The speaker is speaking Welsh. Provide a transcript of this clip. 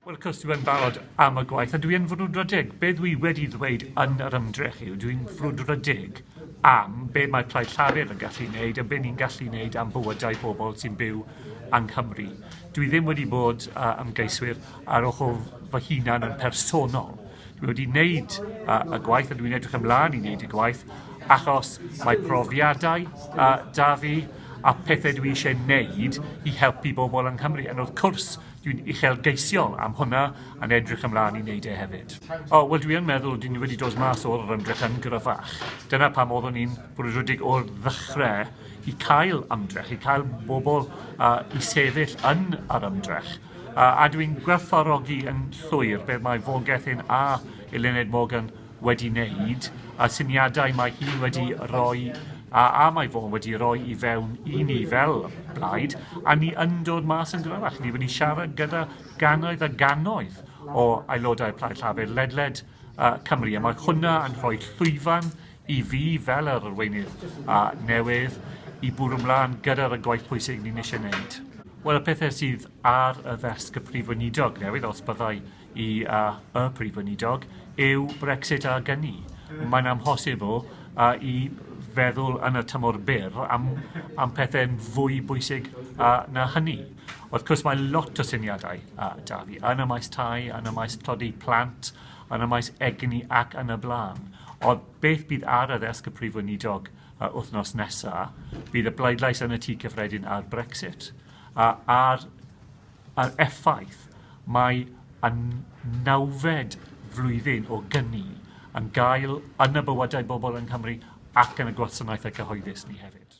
Wel, cos dwi yn barod am y gwaith, a dwi yn frwdfrydig. Be dwi wedi ddweud yn yr ymdrech yw dwi'n frwdfrydig am be mae Plaid Llafur yn gallu wneud a be ni'n gallu wneud am bywydau pobl sy'n byw yng Nghymru. Dwi ddim wedi bod uh, ymgeiswyr ar ochr fy hunan yn personol. Dwi wedi wneud uh, y gwaith a dwi'n edrych ymlaen i wneud y gwaith achos mae profiadau uh, da fi a pethau dwi eisiau wneud i helpu bobl yng Nghymru. Yn wrth cwrs, dwi'n uchelgeisiol am hwnna a'n edrych ymlaen i wneud e hefyd. O, wel dwi yn meddwl dwi wedi dod mas o'r ymdrech yn gryfach. Dyna pam oeddwn i'n brwydrodig o'r ddechrau i cael ymdrech, i cael bobl uh, i sefyll yn yr ymdrech. A ydw i'n gwerthfawrogi yn llwyr beth mae Vaughan Gething a Eluned Morgan wedi wneud, a'r syniadau mae hi wedi rhoi a, a mae Vaughan wedi rhoi i fewn i ni fel blaid, a ni yn dod mas yn gryfach. Ni wedi siarad gyda gannoedd a gannoedd o aelodau Plaid Llafur ledled uh, Cymru, a mae hwnna yn rhoi llwyfan I fi fel yr arweinydd a newydd i bwrw mlan gyda'r y gwaith pwysig ni'n eisiau wneud. Wel y pethe sydd ar y ddesg y Prif Weinidog newydd, os byddai i a y Prif Weinidog, yw Brexit a gyni. Mae'n amhosibl a i feddwl yn y tymor byr am, am pethau'n fwy bwysig a, na hynny. Wrth cwrs mae lot o syniadau a, da fi yn y maes tai, yn y maes tlodi plant yn y maes egni ac yn y blaen. Ond beth bydd ar y ddesg y Prif Weinidog uh, wythnos nesaf? Bydd y bleidlais yn y Tŷ Cyffredin ar Brexit uh, a'r, ar effaith mae y nawfed flwyddyn o gyni yn gael yn y bywydau bobl yng Nghymru ac yn y gwasanaethau cyhoeddus ni hefyd.